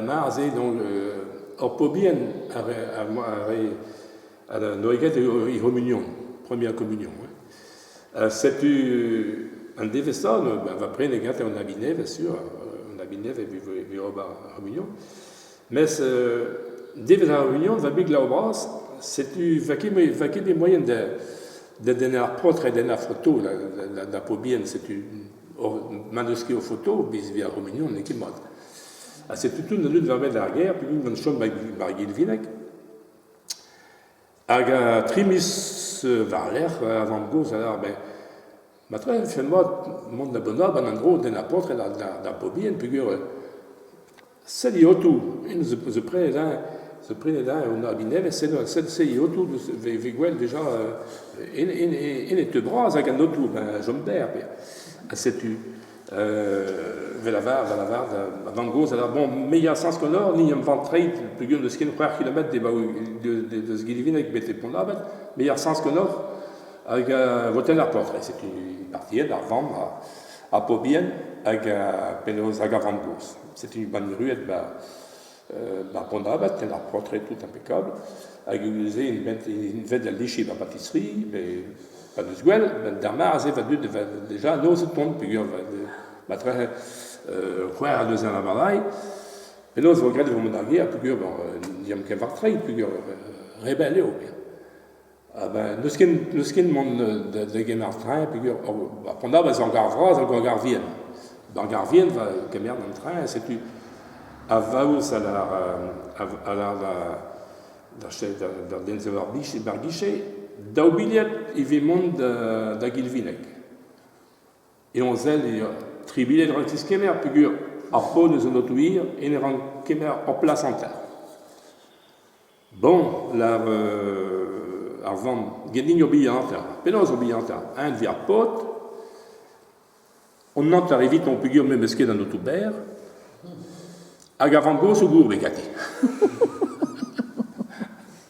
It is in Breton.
Mar se, donc, hor pobien a rae an oered he c'homunion, première communion. Hein. setu an devezh-ça, ben, va prene gante an abinev, sûr, an abinev e ober ar c'homunion. Mes devezh ar c'homunion, va big lau bras, setu va ket bet moyen d'en ar portr et d'en ar foto da pobien, setu ma n'eus ket o foto, biz vi ar c'homunion n'eo ket mat. Ha setu tout an dud war-benn ar gêr, pegwin gant chom bar Gilvinec. Hag uh, tri miz euh, war-lerc'h, uh, ar vamm-gozh a lâr, ben, ma tra e vefe mat mont da Bonab an endro den ar paotred d'ar bobien, peogwir euh, sell eo en zo, zo prenet eñ, zo prenet eñ en abi nevez, sell, sell, sell eo tout, vez gwell deja en e teu bras hag an aotrou, ben, chom berr, ha setu Vel avar, vel avar, ma vamm-gozh a lavar, bon, me ya sans Connor, ni am val treid pegement deus ken c'hwec'h kilometr debaoù deus Gilivink betek Pont-'n-Abad, me ya sans Connor hag votel ar portr. E setu partiet ar vamm ha pobien hag penaos hag ar vamm-gozh. Setu banniruet 'ba Ar bonabad, ken ar portred tout impeccable, hag se int bet da lichiñ er batisserie, met pa n'eus gwell, d'ar mare-se va dud vat deja noz o tont, peogwir ma tra c'hwec'h ha neuze a lavarailh. Penaos e vo graet e vo mont d'ar gêr, peogwir n'eomp ket war-trein, peogwir rebell eo. n'eus ken n'eus ken mont da gemer ar traeñ peogwir an dra va eo ar gar vras hag ur gar vihan. Ar gar vihan va kemer an traeñ setu a vaouez a lar a lar d'an ensaver mar gije daou bilhad ivez mont da Gilvinec. Penaos sell tri bilhad rak tiskemer peogwir ar paotr eus an oto-hir hennezh ran kemer ur plas hanter. Bon, la, euh, ar vamm, gendiñ o bihan ta. Penaos o bihan ta? Eñ deus ar paotr, on antar evitañ peogwir memes ket an aotrou berr, hag ar vamm gozh o gourbe ganti.